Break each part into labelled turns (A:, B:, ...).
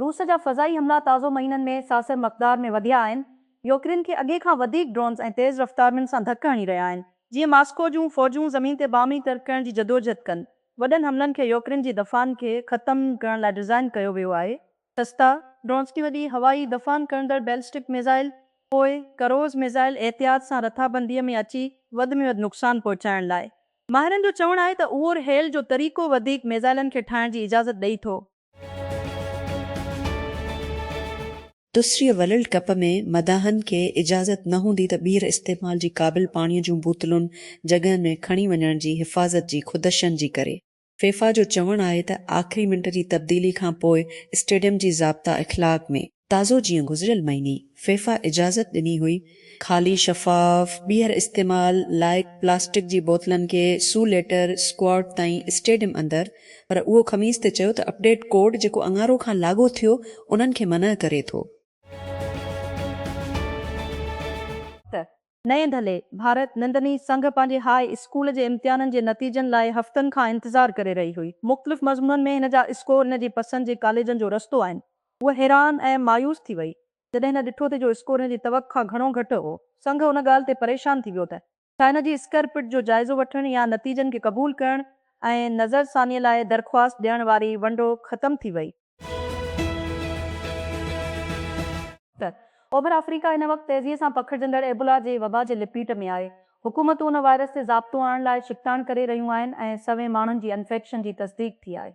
A: روس جا فضائي حملا تازو مهينن ۾ ساثر مقدار ۾ وڌيا آهن. يوڪرين کي اڳي کان وڌيڪ ڊرونز ۽ تيز رفتارمين سان ڌڪ هڻي رهيا آهن. جيئن ماسڪو جون فوجون زمين تي باهمي ترڪڻ جي جدوجهد ڪن. وڏن حملن کي يوڪرين جي دفاعن کي ختم ڪرڻ لاء ڊزائين ڪيو ويو آهي. سستا ڊرونز ڪي وڏي هوائي دفعان کڻندڙ بيلسٽڪ ميزائل پوء ڪروز ميزائل احتياط سان رٿابنديء ۾ اچي وڌ ۾ وڌ نقصان پهچائڻ لاء ماهرن جو چوڻ آهي ته اوور هيل جو طريقو وڌيڪ ميزائلن کي ٺاهڻ جي اجازت ڏئي ٿو.
B: دوسري ورلڊ ڪپ ۾ مداحن کي اجازت نه هوندي ته ٻيهر استعمال جي قابل پاڻي جون بوتلون جڳهن ۾ کڻي وڃڻ جي حفاظت جي خدشن جي ڪري. فيفا جو چوڻ آهي ته آخري منٽ جي تبديلي کانپوء اسٽيڊيم جي ضابطا اخلاق ۾ تازو جيئن گذريل مهيني فيفا اجازت ڏني هئي، خالي شفاف، ٻيهر استعمال لائق پلاسٽڪ جي بوتلن کي سو ليٽر اسڪواڊ تائين اسٽيڊيم اندر پر اهو خميس تي چيو ته اپڊيٽ ڪوڊ جيڪو اڱارو کان لاڳو ٿيو انهن کي منع ڪري ٿو.
A: نئين دھلي، ڀارت نندني سنگهه پنهنجي هاء اسڪول جي امتحانن جي نتيجن لاء هفتن کان انتظار ڪري رهي هئي. مختلف مضمونن ۾ هن جا اسڪور هن جي پسند جي ڪاليجن جو رستو آهن. هوء حيران ۽ مايوس ٿي وئي، جڏهن هن ڏٺو ته جو اسڪور هن جي توقع کان گهڻو گهٽ هو. سنگهه ان ڳالهه تي پريشان ٿي ويو ته. ڇا هن جي اسڪر پٽ جو جائزو وٺڻ يا نتيجن کي قبول ڪرڻ ۽ نظر ثانيء لاء درخواست ڏيڻ واري ونڊو ختم ٿي وئي؟ ته اوڀر آفريڪا هن وقت تيزيء سان پکڙجندڙ ايبولا جي وبا جي لپيٽ ۾ آهي. حڪومتون ان وائرس تي ضابطو آڻڻ لاء ڇڪتاڻ ڪري رهيون آهن ۽ سوين ماڻهن جي انفيڪشن جي تصديق ٿي آهي.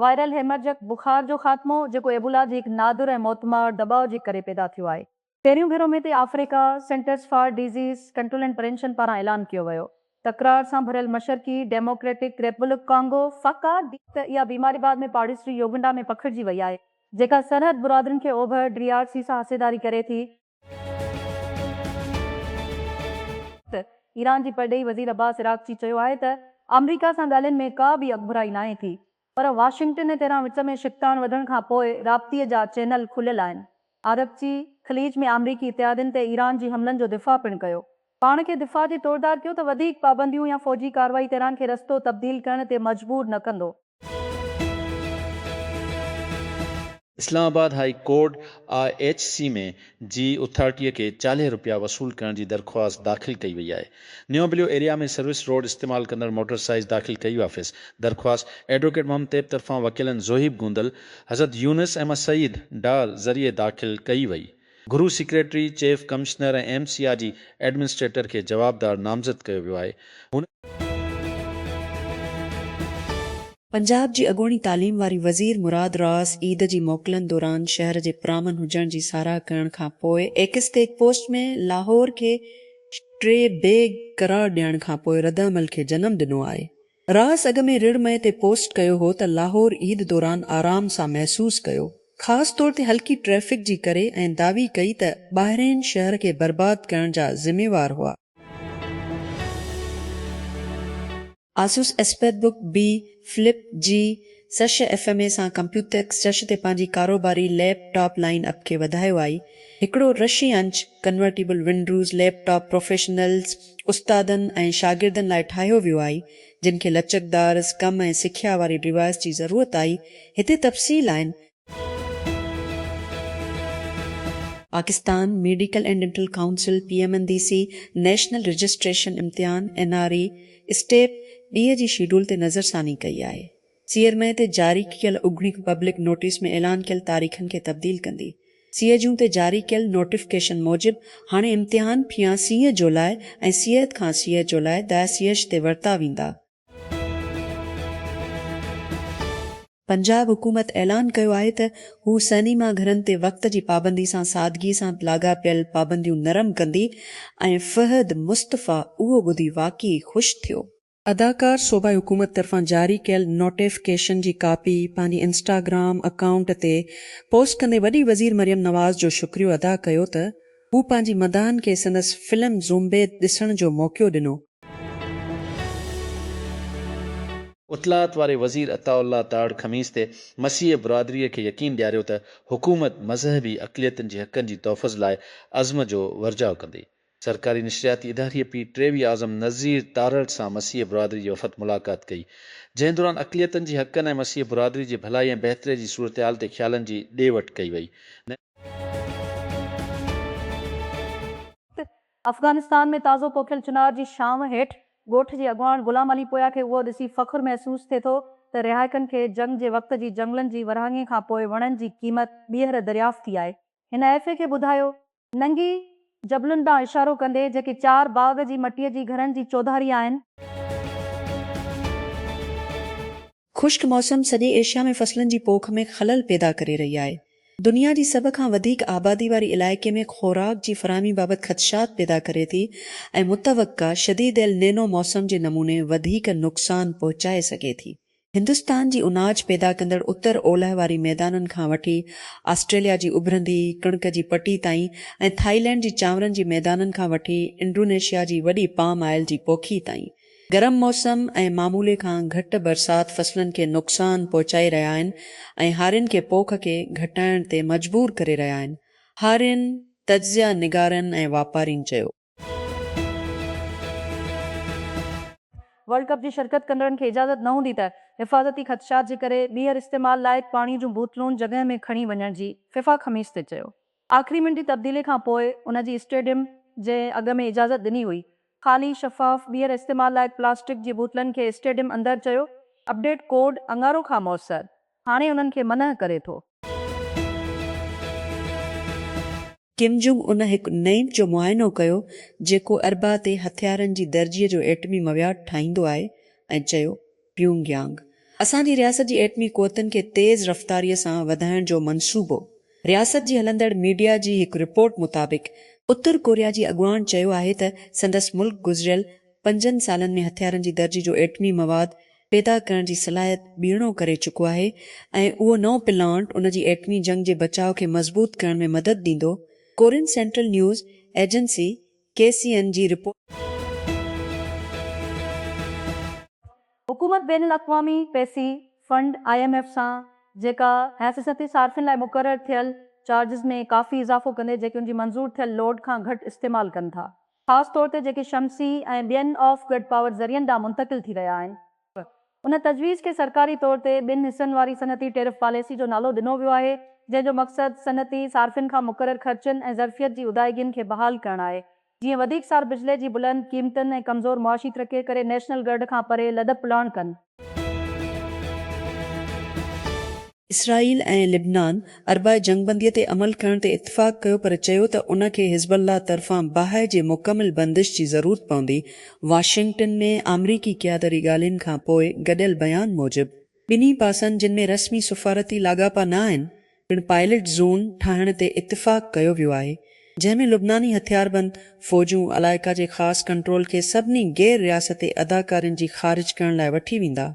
A: وائرل هيمرجڪ بخار جو خاتمو، جيڪو ايبولا جي هڪ نادر ۽ موتمار دٻاء جي ڪري پيدا ٿيو آهي، پهريون ڀيرو ۾ تي Africa Centres for Disease Control and Prevention پاران اعلان ڪيو ويو. تڪرار سان ڀريل مشرقي ڊيموڪريٽڪ ريپبلڪ ڪانگو، فڪا، ڊي ته اها بيماري بعد ۾ پاڙيسري يوگنڊا ۾ پکڙجي وئي آهي، جيڪا سرحد برادرين کي اوڀر ڊي آر سي سان حصيداري ڪري ٿي. ته ايران جي پرڏيهي وزير عباس عراقچي چيو آهي ته آمريڪا سان ڳالهين ۾ ڪا به اڳڀرائي ناهي ٿي، پر واشنگٽن ۽ تهران وچ ۾ شڪتاڻ وڌڻ کان پوء رابطي جا چينل کليل آهن. عربچي، خليج ۾ آمريڪي اتحادين تي ايران جي حملن جو دفاع پڻ ڪيو. پاڻ کي دفاع جي توڙدار ڪيو ته وڌيڪ پابنديون يا فوجي ڪارروائي تهران کي رستو تبديل ڪرڻ تي مجبور نه ڪندو.
C: Islamabad high court I H C ۾ جي اٿارٽيء کي چاليهه رپيا وصول ڪرڻ جي درخواست داخل ڪئي وئي آهي. New Blue Area ۾ service road استعمال ڪندڙ موٽر سائز داخل ڪئي وافيس درخواست ايڊووڪيٽ محمد طيب طرفان وڪيلن زوهيب گوندل، حضرت يونس احمد سعيد ڊار ذريعي داخل ڪئي وئي. گهرو secretary, chief commissioner ۽ M C I جي ايڊمنسٽريٽر کي جوابدار نامزد ڪيو ويو آهي. هن.
B: پنجاب جي اڳوڻي تعليم واري وزير مراد راس عيد جي موڪلن دوران شهر جي پرامن هجڻ جي ساراهه ڪرڻ کان پوء ايڪس تي هڪ پوسٽ ۾ لاهور کي ٽي بيگ قرار ڏيڻ کان پوء ردعمل کي جنم ڏنو آهي. راس اڳ ۾ رڙ مئي تي پوسٽ ڪيو هو ته لاهور عيد دوران آرام سان محسوس ڪيو، خاص طور تي هلڪي ٽريفڪ جي ڪري ۽ دعوي ڪئي ته ٻاهرئين شهر کي برباد ڪرڻ جا ذميوار هئا. آسوس ايسپيٿ بوڪ بي فلپ جي سش ايف ايم اي سان ڪمپيوتيڪس سش تي پنهنجي ڪاروباري ليپ ٽاپ لائن اپ کي وڌايو آهي. هڪڙو رشي inch convertible Windows laptop professionals, استادن ۽ شاگردن لاء ٺاهيو ويو آهي، جن کي لچڪدار اسڪم ۽ سکيا واري ڊوائيس جي ضرورت آهي، هتي تفصيل آهن. Pakistan Medical and Dental Council, P M N D C, National Registration امتحان، اين آر اي، اسٽيپ ٻي جي شيڊول تي نظرثاني ڪئي آهي. سير مئي تي جاري ڪيل اوگڻيڪ پبلڪ نوٽيس ۾ اعلان ڪيل تاريخن کي تبديل ڪندي. سيء جون تي جاري ڪيل نوٽيفڪيشن موجب هاڻي امتحان ڦيان سيء جولاء ۽ سيئت کان سيء جولاء دائي سيئش تي ورتا ويندا. پنجاب حڪومت اعلان ڪيو آهي ته هو سئنيما گهرن تي وقت جي پابندي سان سادگي سان لاڳاپيل پابنديون نرم ڪندي ۽ فهد مصطفيٰ اهو ٻڌي واقعي خوش ٿيو. اداڪار صوبائي حڪومت طرفان جاري ڪيل نوٽيفڪيشن جي ڪاپي پنهنجي انسٽاگرام اڪائونٽ تي پوسٽ ڪندي وڏي وزير مريم نواز جو شڪريو ادا ڪيو ته هو پنهنجي مداحن کي سندس فلم زومبي ڏسڻ جو موقعو ڏنو.
C: اطلاعات واري وزير عطاء الله تاڙ خميس تي مسيحي برادري کي يقين ڏياريو ته حڪومت مذهبي اقليتن جي حقن جي تحفظ لاء عزم جو ورجاء ڪندي. سرڪاري نشرياتي اداري P T V Azam Nazir Tarar سان مسيحي برادري جي وفد ملاقات ڪئي، جنهن دوران اقليتن جي حقن ۽ مسيحي برادري جي ڀلائي ۽ بهتري جي صورتحال تي خيالن جي ڏي وٺ ڪئي وئي.
A: افغانستان ۾ تازو پوکيل چنار جي ڇانو هيٺ ڳوٺ جي اڳواڻ غلام علي پويا کي اهو ڏسي فخر محسوس ٿئي ٿو ته رهائڪن کي جنگ جي وقت جي جنگلن جي ورهاڱي کانپوء وڻن جي قيمت ٻيهر دريافت ٿي آهي. هن ايف اي کي ٻڌايو ننگي جبلن ڏانهن اشارو ڪندي، جيڪي چار باغ جي مٽيء جي گهرن جي چوڌاري آهن.
B: خشڪ موسم سڄي ايشيا ۾ فصلن جي پوک ۾ خلل پيدا ڪري رهي آهي. دنيا جي سڀ کان وڌيڪ آبادي واري علائقي ۾ خوراڪ جي فراهمي بابت خدشات پيدا ڪري ٿي ۽ متوقع شديد ايل نينو موسم جي نموني وڌيڪ نقصان پهچائي سگهي ٿي. هندستان جي اناج پيدا ڪندڙ اتر اولهه واري ميدانن کان وٺي آسٽريليا جي اڀرندي ڪڻڪ جي پٽي تائين ۽ ٿائلينڊ جي چانورن جي ميدانن کان وٺي انڊونيشيا جي وڏي پام آئل جي پوکي تائين گرم موسم ۽ معمولي کان گهٽ برسات فصلن کي نقصان پهچائي رهيا آهن ۽ هارين کي پوک کي گهٽائڻ تي مجبور ڪري رهيا آهن هارين تجزيه نگارن ۽ واپارين چيو.
A: ورلڊ ڪپ جي شرڪت ڪندڙن کي اجازت نه هوندي ته حفاظتي خدشات جي ڪري ٻيهر استعمال لائق پاڻي جون بوتلون جڳهه ۾ کڻي وڃڻ جي فيفا خميس تي چيو. آخري منٽ جي تبديلي کانپوء ان جي اسٽيڊيم جي اڳ ۾ اجازت ڏني هئي. خالي، شفاف، ٻيهر استعمال لائق پلاسٽڪ جي بوتلن کي اسٽيڊيم اندر چيو اپڊيٽ ڪوڊ اڱارو کان موثر هاڻي انهن کي منع ڪري ٿو.
B: ڪم جونگ ان هڪ نئين جو معائنو ڪيو جيڪو اربع تي هٿيارن جي درجي جو ايٽمي مواد ٺاهيندو آهي ۽ چيو، پيونگ يانگ، اسان جي رياست جي ايٽمي قوتن کي تيز رفتاري سان وڌائڻ جو منصوبو، رياست جي هلندڙ ميڊيا جي هڪ رپورٽ مطابق، اتر ڪوريا جي اڳواڻ چيو آهي ته سندس ملڪ گذريل پنجن سالن ۾ هٿيارن جي درجي جو ايٽمي مواد پيدا ڪرڻ جي صلاحيت ٻيڻو ڪري چڪو آهي ۽ اهو نئون پلانٽ ان جي ايٽمي جنگ جي بچاء کي مضبوط ڪرڻ ۾ مدد ڏيندو، Korean Central News Agency, K C N, جي رپورٽ.
A: حڪومت بين الاقوامي پئسي فنڊ، آء ايم ايف، سان جيڪا حيثيتي صارفين لاء مقرر ٿيل چارجز ۾ ڪافي اضافو ڪندي جيڪي ان جي منظور ٿيل لوڊ کان گهٽ استعمال ڪن ٿا خاص طور تي جيڪي شمسي ۽ ٻين آف گرڊ پاور ذريعن ڏانهن منتقل ٿي رهيا آهن. ان تجويز کي سرڪاري طور تي ٻن حصن واري صنعتي ٽيرف پاليسي جو نالو ڏنو ويو آهي، جنهن جو مقصد صنعتي صارفين کان مقرر خرچن ۽ ظرفيت جي ادائيگين کي بحال ڪرڻ آهي، جيئن وڌيڪ سار بجلي جي بلند قيمتن ۽ ڪمزور معاشي ترقي ڪري نيشنل گرڊ کان پري لڏپلاڻ ڪن.
B: اسرائيل ۽ لبنان اربع جنگبنديء تي عمل ڪرڻ تي اتفاق ڪيو پر چيو ته ان کي حزب الله طرفان باهه جي مڪمل بندش جي ضرورت پوندي. واشنگٽن ۾ آمريڪي قيادري ڳالهين کان پوء گڏيل بيان موجب ٻنهي پاسن جن ۾ رسمي سفارتي لاڳاپا نه آهن، پڻ پائلٽ زون ٺاهڻ تي اتفاق ڪيو ويو آهي، جنهن ۾ لبناني هٿياربند فوجون علائقا جي خاص ڪنٽرول کي سڀني غير رياستي اداڪارين جي خارج ڪرڻ لاء وٺي ويندا.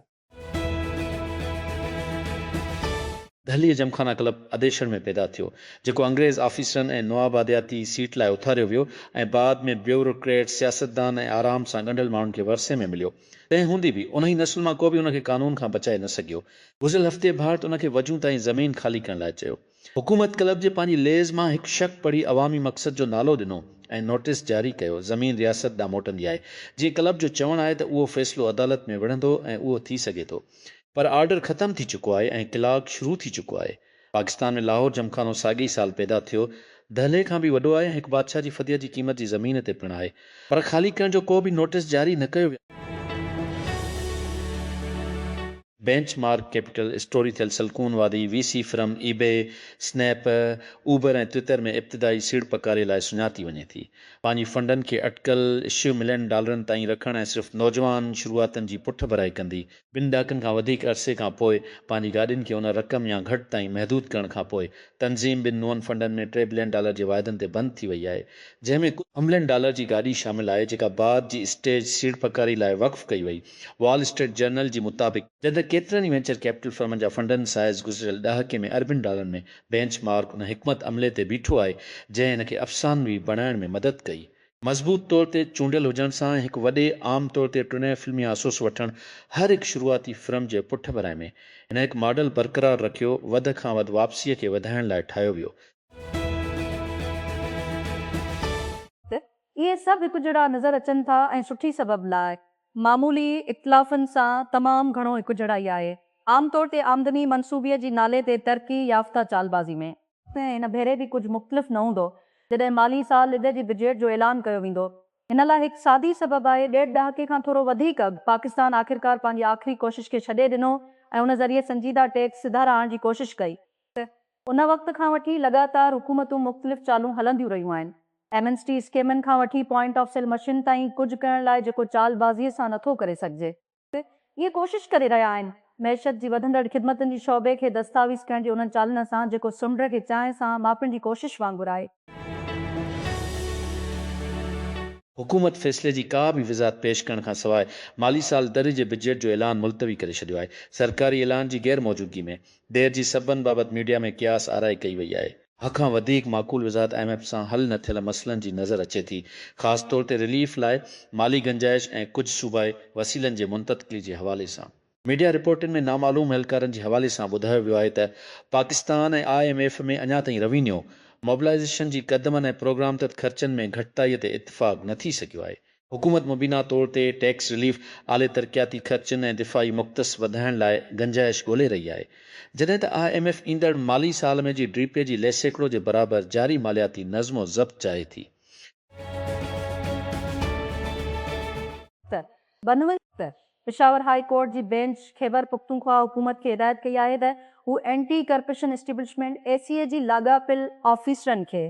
C: دهليء جمخانا ڪلب اديشڻ ۾ پيدا ٿيو، جيڪو انگريز آفيسرن ۽ نوآبادياتي سيٽ لاء اٿاريو ويو ۽ بعد ۾ بيوروڪريٽ، سياستدان ۽ آرام سان ڳنڍيل ماڻهن کي ورثي ۾ مليو. تنهن هوندي به انهي نسل مان ڪو به ان کي قانون کان بچائي نه سگهيو. گذريل هفتي ڀارت ان کي وجون تائين زمين خالي ڪرڻ لاء چيو. حڪومت ڪلب جي پنهنجي ليز مان هڪ شق پڙهي عوامي مقصد جو نالو ڏنو ۽ نوٽيس جاري ڪيو، زمين رياست ڏانهن موٽندي آهي. جيئن ڪلب جو چوڻ آهي ته اهو فيصلو عدالت ۾ وڙهندو ۽ اهو ٿي سگهي ٿو. پر آرڊر ختم ٿي چڪو آهي ۽ ڪلاڪ شروع ٿي چڪو آهي. پاڪستان ۾ لاهور جمخانو ساڳئي ئي سال پيدا ٿيو. دهلي کان به وڏو آهي ۽ هڪ بادشاهه جي فديء جي قيمت جي زمين تي پڻ آهي. پر خالي ڪرڻ جو ڪو به نوٽيس جاري نه ڪيو ويو. بينچ مارڪ ڪيپيٽل اسٽوري ٿيل سلڪون وادي، V C firm, eBay, Snap, Uber ۽ Twitter ۾ ابتدائي سيڙپڪاري لاء سڃاتي وڃي ٿي. پنهنجي فنڊن کي اٽڪل اشيء ملين ڊالرن تائين رکڻ ۽ صرف نوجوان شروعاتين جي پٺڀرائي ڪندي، ٻن ڏهاڪن کان وڌيڪ عرصي کان پوء پنهنجي گاڏين کي ان رقم يا گهٽ تائين محدود ڪرڻ کان پوء تنظيم ٻن نون فنڊن ۾ ٽي بلين ڊالر جي واعدن تي بند ٿي وئي آهي جنهن ۾ ڪجهه املين ڊالر جي گاڏي شامل آهي جيڪا بعد جي اسٽيج سيڙپڪاري لاء وقف ڪئي وئي وال اسٽريٽ جرنل جي مطابق جڏهن ڪيترن ئي وينچر ڪيپيٽل فرمن جا فنڊن سائز گذريل ڏهاڪي ۾ اربين ڊالرن ۾ بينچ مارڪ ان حڪمت عملي تي بيٺو آهي جنهن هن کي افسانوي بڻائڻ ۾ مدد ڪئي مضبوط طور تي چونڊيل هجڻ سان هڪ وڏي عام طور تي ٽنهين فلمي آسوس وٺڻ هر هڪ شروعاتي فرم جي پٺڀرائي ۾ هن هڪ ماڊل برقرار رکيو وڌ کان وڌ واپسيء کي وڌائڻ لاء ٺاهيو ويو. ته
A: اهي سڀ هڪجهڙا نظر اچن ٿا ۽ سٺي سبب لاء معمولي اختلافن سان تمام گهڻو هڪجهڙائي آهي عام طور تي آمدني منصوبي جي نالي تي ترقي يافته چالبازي ۾. تنهن هن ڀيري به ڪجهه مختلف نه هوندو جڏهن مالي سال ڏيڍ جي بجيٽ جو اعلان ڪيو ويندو. ان لاء هڪ سادي سبب آهي، ڏيڍ ڏهاڪي کان ٿورو وڌيڪ اڳ پاڪستان آخرڪار پنهنجي آخري ڪوشش کي ڇڏي ڏنو ۽ ان ذريعي سنجيده ٽيڪس سڌارا آڻڻ جي ڪوشش ڪئي. ان وقت کان وٺي لڳاتار حڪومتون مختلف چالون هلنديون رهيون آهن. ايمنسٽي اسڪيمن کان وٺي پوائنٽ آف سيل مشين تائين ڪجهه ڪرڻ لاء جيڪو چالبازيء سان نٿو ڪري سگهجي. اهي ڪوشش ڪري رهيا آهن معيشت جي وڌندڙ خدمتن جي شعبي کي دستاويز ڪرڻ جي انهن چالن سان جيڪو سمنڊ کي چانهه سان ماپڻ جي ڪوشش وانگر آهي.
C: حڪومت فيصلي جي ڪا به وضاحت پيش ڪرڻ کان سواء مالي سال در جي بجيٽ جو اعلان ملتوي ڪري ڇڏيو آهي. سرڪاري اعلان جي غير موجودگي ۾ دير جي سببن بابت ميڊيا ۾ قياس آرائي ڪئي وئي آهي. هه کان وڌيڪ معقول وضاحت آء ايم ايف سان حل نه ٿيل مسئلن جي نظر اچي ٿي، خاص طور تي رليف لاء مالي گنجائش ۽ ڪجهه صوبائي وسيلن جي منتتقلي جي حوالي سان. ميڊيا رپورٽن ۾ نامعلوم اهلڪارن جي حوالي سان ٻڌايو ويو آهي ته پاڪستان ۽ آء ايم ايف ۾ اڃا تائين روينيو موبلائيزيشن جي قدمن ۽ پروگرام تحت خرچن ۾ گهٽتائي تي اتفاق نه ٿي سگهيو آهي، حڪومت مبينا طور تي ٽيڪس رليف، اعلي ترقياتي خرچن ۽ دفاعي مختص وڌائڻ لاء گنجائش ڳولي رهي آهي، جڏهن ته آء ايم ايف ايندڙ مالي سال ۾ جي ڊي پي جي لي سيڪڙو جي برابر جاري مالياتي نظم و ضبط چاهي ٿي.
A: ته بنوي ته پشاور هاء ڪورٽ جي بينچ خيبر پختونخوا حڪومت کي هدايت ڪئي آهي ته هو anti corruption establishment, A C E, جي لاڳاپيل آفيسرن کي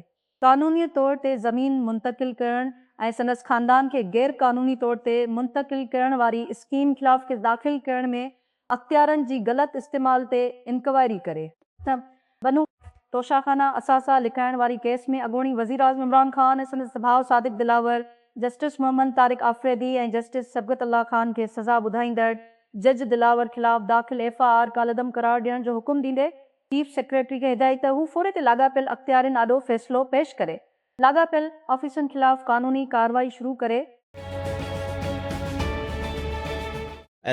A: قانوني طور تي زمين منتقل ڪرڻ ۽ سندس خاندان کي غير قانوني طور تي منتقل ڪرڻ واري اسڪيم خلاف ڪيس داخل ڪرڻ ۾ اختيارن جي غلط استعمال تي انڪوائري ڪري. بنو توشاخانه اثاثا لڪائڻ واري ڪيس ۾ اڳوڻي وزيراعظم عمران خان ۽ سندس ڀاء صادق دلاور، جسٽس محمد طارق آفريدي ۽ جسٽس صبغت الله خان کي سزا ٻڌائيندڙ جج دلاور خلاف داخل ايف آء آر ڪالعدم قرار ڏيڻ جو حڪم ڏيندي چيف سيڪريٽري کي هدايت ته هو فوري تي لاڳاپيل اختيارين آڏو فيصلو پيش ڪري، لاڳاپيل آفيسن خلاف قانوني ڪارروائي شروع ڪري.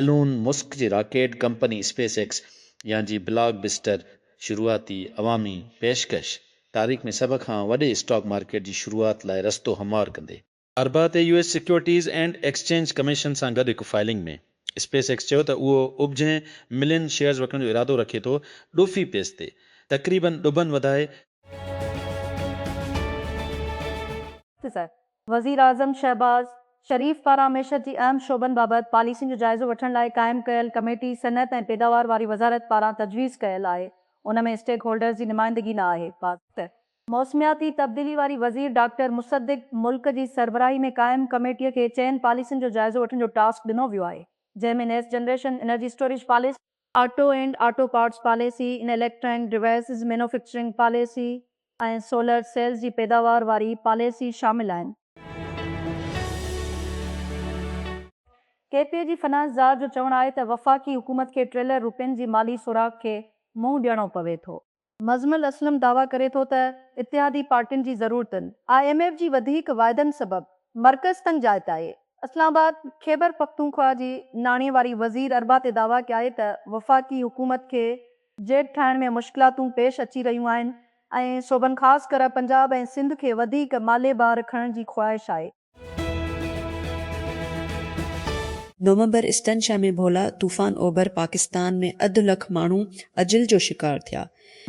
A: ايلون
C: مسڪ جي راڪيٽ ڪمپني اسپيس ايڪس يا جي بلاڪ بسٽر شروعاتي عوامي پيشڪش تاريخ ۾ سڀ کان وڏي اسٽاڪ مارڪيٽ جي شروعات لاء رستو هموار ڪندي. اربع تي U S Securities and Exchange Commission سان گڏ هڪ فائلنگ ۾ اسپيس ايڪس چيو ته اهو ابجهين ملين شيئرز وڪڻڻ جو ارادو رکي ٿو ڏوفي پيس تي تقريبن ڏبن وڌائي تيسر
A: وزيراعظم شهباز شريف پاران معيشت جي اهم شعبن بابت پاليسين جو جائزو وٺڻ لاء قائم ڪيل ڪميٽي صنعت ۽ پيداوار واري وزارت پاران تجويز ڪيل آهي ان ۾ اسٽيڪ هولڊرز جي نمائندگي نه آهي، پاڪ. موسمياتي تبديلي واري وزير ڊاڪٽر مصدق ملڪ جي سربراهي ۾ قائم ڪميٽي کي چئن پاليسين جو جائزو وٺڻ جو ٽاسڪ ڏنو ويو آهي جنهن ۾ نيس generation, energy storage policy, auto and auto parts policy, ان electronic devices manufacturing policy ۽ solar cells جي پيداوار واري پاليسي شامل آهن. ڪي پي اي جي فنانس زار جو چوڻ آهي ته وفاقي حڪومت کي ٽريلر روپين جي مالي سوراخ کي منهن ڏيڻو پوي ٿو. مزمل اسلم دعويٰ ڪري ٿو ته اتحادي پارٽين جي ضرورتن، آء ايم ايف جي وڌيڪ واعدن سبب مرڪز تنگ جاء تي آهي. اسلام آباد، خيبرپختونخوا جي ناڻي واري وزير اربع تي دعويٰ ڪيا آهي ته وفاقي حڪومت کي جيڊ ٺاهڻ ۾ مشڪلاتون پيش اچي رهيون آهن ۽ صوبن خاص ڪري پنجاب ۽ سنڌ کي وڌيڪ مالي بار کڻڻ جي خواهش آهي.
B: نومبر، ايسٽرن شهر ۾ ڀولا طوفان اوڀر پاڪستان ۾ اڌ لک ماڻهو اجل جو شڪار ٿيا،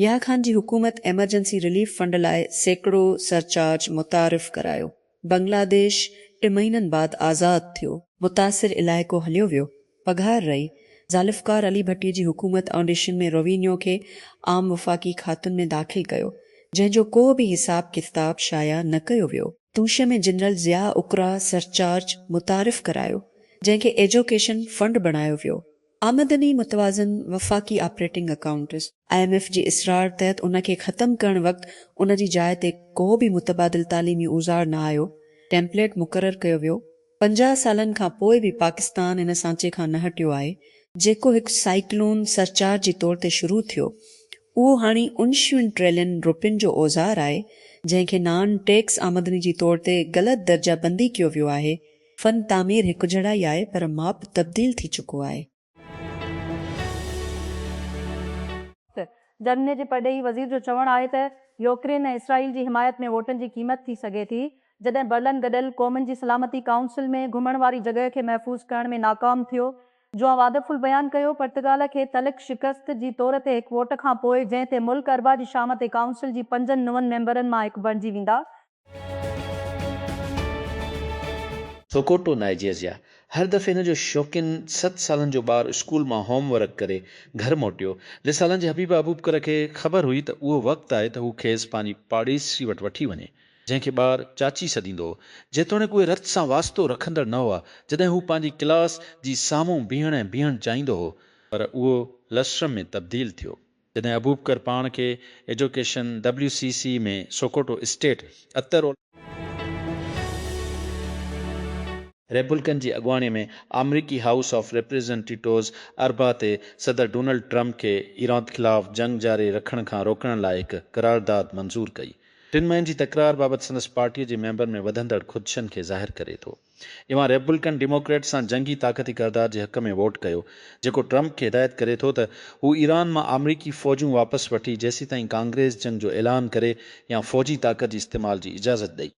B: يحيٰ خان جي حڪومت ايمرجنسي رليف فنڊ لاء سيڪڙو سرچارج متعارف ڪرايو، بنگلاديش ٽي مهينن بعد آزاد ٿيو. متاثر علائقو هليو ويو، پگهار رهي، ذالفقار علي ڀٽي جي حڪومت آنڊيشن ۾ روينيو کي عام وفاقي کاتن ۾ داخل ڪيو، جنهن جو ڪو به حساب ڪتاب شايع نه ڪيو ويو. توشه ۾ جنرل ضياء اقرا سرچارج متعارف ڪرايو، جنهن کي ايجوڪيشن فنڊ بڻايو ويو. آمدني متوازن وفاقي operating accounts. I M F جي اصرار تحت ان کي ختم ڪرڻ وقت ان جي جاء تي ڪو به متبادل تعليمي اوزار نه آيو، ٽيمپليٽ مقرر ڪيو ويو، پنجاهه سالن کان پوء به پاڪستان ان سانچي کان نه هٽيو آهي، جيڪو هڪ سائيڪلون سرچارج جي طور تي شروع ٿيو. اهو هاڻي انشيون ٽريلين روپين جو اوزار آهي، جنهن کي نان ٽيڪس آمدني جي طور تي غلط درجه بندي ڪيو ويو آهي. فن تعمير هڪجهڙا ئي آهي پر ماپ تبديل ٿي چڪو آهي.
A: جرمني جي پرڏيهي وزير جو چوڻ آهي ته يوڪرين ۽ اسرائيل جي حمايت ۾ ووٽن جي قيمت ٿي سگهي ٿي جڏهن برلن گڏيل قومن جي سلامتي ڪائونسل ۾ گهمڻ واري جڳهه کي محفوظ ڪرڻ ۾ ناڪام ٿيو جوان وادف البيان ڪيو پرتگال کي تلخ شڪست جي طور تي هڪ ووٽ کانپوء جنهن تي ملڪ اربع جي شام تي ڪائونسل جي پنجن نون ميمبرن مان هڪ بڻجي ويندا
C: سوڪوٽو، نائيجيريا، هر دفعي هن جو شوقين ست سالن جو ٻار اسڪول مان هوم ورڪ ڪري گهر موٽيو، رسالن جي حبيبه ابوبڪر کي خبر هئي ته اهو وقت آهي ته هو کيس پنهنجي پاڙيسري وٽ وٺي وڃي، جنهن کي ٻار چاچي سڏيندو هو، جيتوڻيڪ اهي رت سان واسطو رکندڙ نه هئا، جڏهن هو پنهنجي ڪلاس جي سامهون بيهڻ ۽ بيهڻ چاهيندو هو، پر اهو لسٽرم ۾ تبديل ٿيو. جڏهن ابوبڪر پاڻ کي ايجوڪيشن WCC ۾ سوڪوٽو اسٽيٽ اتر. ريپبلڪن جي اڳواڻي ۾ آمريڪي هائوس آف ريپريزنٽيٽوز اربع تي صدر ڊونلڊ ٽرمپ کي ايران خلاف جنگ جاري رکڻ کان روڪڻ لاء هڪ قرارداد منظور ڪئي. ٽن مهين جي تڪرار بابت سندس پارٽيء جي ميمبرن ۾ وڌندڙ خدشن کي ظاهر ڪري ٿو. اوهان ريپبلڪن ڊيموڪريٽس سان جنگي طاقتي ڪردار جي حق ۾ ووٽ ڪيو، جيڪو ٽرمپ کي هدايت ڪري ٿو ته هو ايران مان آمريڪي فوجون واپس وٺي جيسيتائين ڪانگريس جنگ جو اعلان ڪري يا فوجي طاقت جي استعمال جي اجازت ڏئي.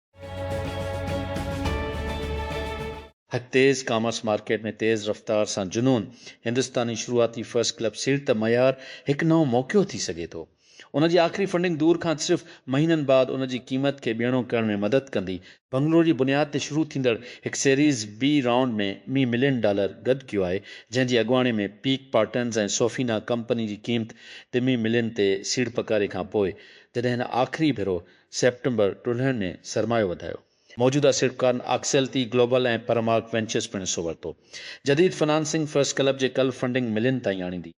C: هڪ تيز ڪامرس مارڪيٽ ۾ تيز رفتار سان جنون هندستاني شروعاتي فرسٽ ڪلب سيٽ ته معيار هڪ نئون موقعو ٿي سگهي ٿو. ان جي آخري فنڊنگ دور کان صرف مهينن بعد ان جي قيمت کي ٻيڻو ڪرڻ ۾ مدد ڪندي. بنگلور جي بنياد تي شروع ٿيندڙ هڪ سيريز بي رائونڊ ۾ مي ملين ڊالر گڏ ڪيو آهي، جنهن جي اڳواڻي ۾ پيڪ پارٽنرز ۽ سوفينا ڪمپني جي قيمت ٽمي ملين تي سيڙپڪاري کان پوء جڏهن هن آخري ڀيرو سيپٽمبر ٽولهن ۾ سرمايو وڌايو. موجوده سيڙپڪارن آڪسيل تي گلوبل ۽ پرمارڪ وينچرز پڻ حصو ورتو. جديد فنانسنگ فرسٽ ڪلب جي ڪل فنڊنگ ملين تائين آڻيندي.